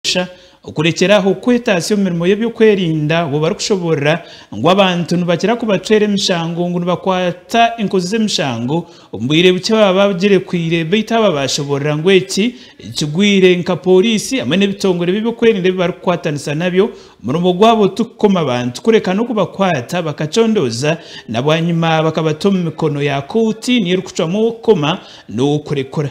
Busha okurekyera aho kwetatsya omu mirimo y'eby'okwerinda obu barikushoboorora ngu abantu nibakira kubacwera emishango ngu nibakwata enkozi z'emishango omu bwire bukye baba bagirekwiire beitu aba baashoboorora ngu eki kigwire nka pooriisi hamwe n'ebitongore by'eby'okwerinda ebi barikukwatanisa nabyo omurimo gwabo tikukoma bantu kureka n'okubakwata bakacondooza na bwanyima bakabata omu mikono ya kooti niyo erikucwamu ow'okukoma n'ow'okurekura.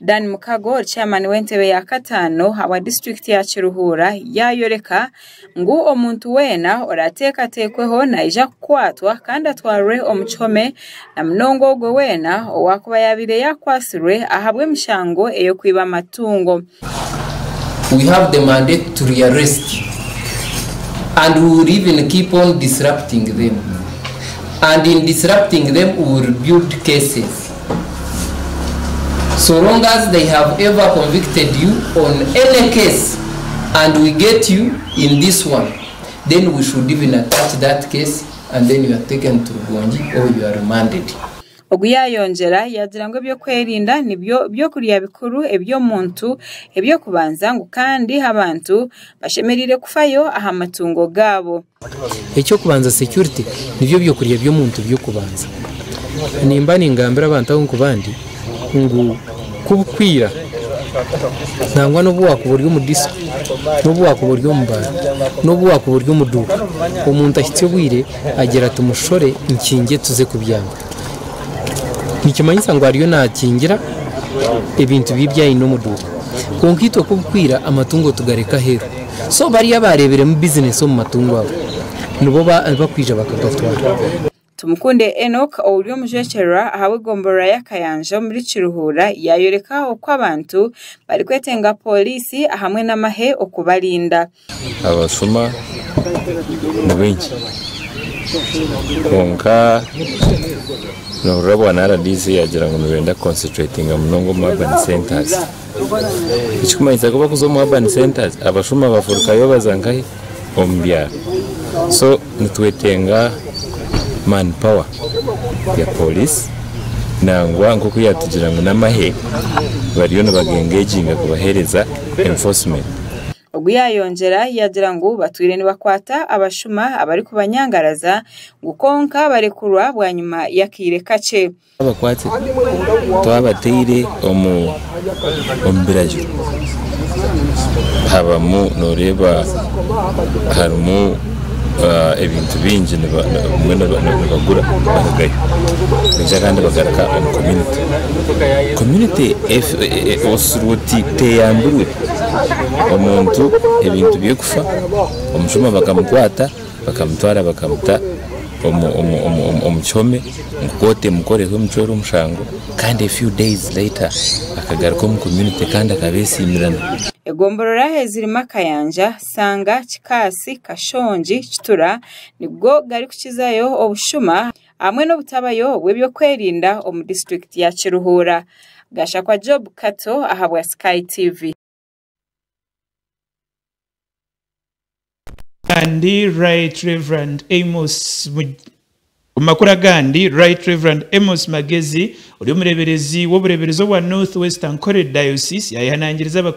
Dan Mukago ori chairman w'entebe ya kataano awa district ya Kiruhura yayoreka ngu omuntu weena orateekateekweho naija kukwatwa kandi atwarwe omu kihome na munonga ogwo weena owakuba yabaire yakwatsirwe ahabw'emishango ey'okwiba amatungo. We have the mandate to rearrest and we will even keep on disrupting them and in disrupting them we will build cases. so long as they have ever convicted you on any case and we get you in this one then we should even attach that case and then you are taken to Rugongi or you are remanded. Ogu yaayongyera yaagira ngu eby'okwerinda nibyo by'okurya bikuru eby'omuntu eby'okubanza ngu kandi abantu bashemereire kufayo aha matungo gaabo. Eky'okubanza security nibyo byokurya by'omuntu by'okubanza. Nimba ningambira abantu aho nkubandi ngu kubukwiira nangwa nobu wakuba ori omu disco, nobu wakuba ori omu bar, nobu wakuba ori omu duuka, omuntu ahitsya obwire agira ati mushore nkingye tuze kubyama. Nikimanyisa ngu ariyo nakingira ebintu bye ebi aine omu duuka. Kwonka itwe kubukwiira amatungo tugareka aheeru. so bariya abaareeberemu bizinesi omu matungo ago nibo barikwija bakagatwara. Tumukunde Enock ouri omujwekyererwa ahabw'egomborora ya Kayanja omuri Kiruhura yayoreka oku abantu barikwetenga pooriisi ahamwe n'amahe okubarinda. Abashuma ni baingi kwonka nohurira bwa rdc yagira ngu nibenda kuconcentratinga munonga omu urban centres. Ekirikumanyisa ku barikuza omu urban centres abashuma bafurukayo baza nkahi? Omu byaro. So nitwetenga man power ya police nangwa nkoku yatugira ngu namahe bariyo nibagengeginga kubahereza enforcement. Ogu yayongyera yagira ngu batwire nibakwata abashuma abarikubanyangaraza ngu kwonka barekurwa bwanyima y'akaire kakye. Twabakwatire, twabataire omu biragiro, habamu noreeba harimu ebintu bingi bamwe nibagura barugayo kwonka abandi nibagaruka omu community, community oshushirwe oti teyambirwe, omuntu ebintu bye kufa, omushuma bakamukwata. Bakamutwara bakamuta omu kihome ngu kooti emukoreho emucwere omushango kandi a few days later akagaruka omu community kandi akabeesiimirana. Egomborora ezirimu akayanja, Sanga, Kikaasi, Kashongi, Kitura nigo garikukizayo obushuma hamwe n'obutabayo bw'ebyokwerinda omu disiturikiti ya Kiruhura. Gashakwa Job Kato ahabwa Sky TV. Agandi Right Rev. Amos Mug- Omu makuru agandi, Right Rev. Amos Magezi ori omureeberezi w'obureeberezi obwa North West Ankole Diocese yaayehanangiriza Abakristo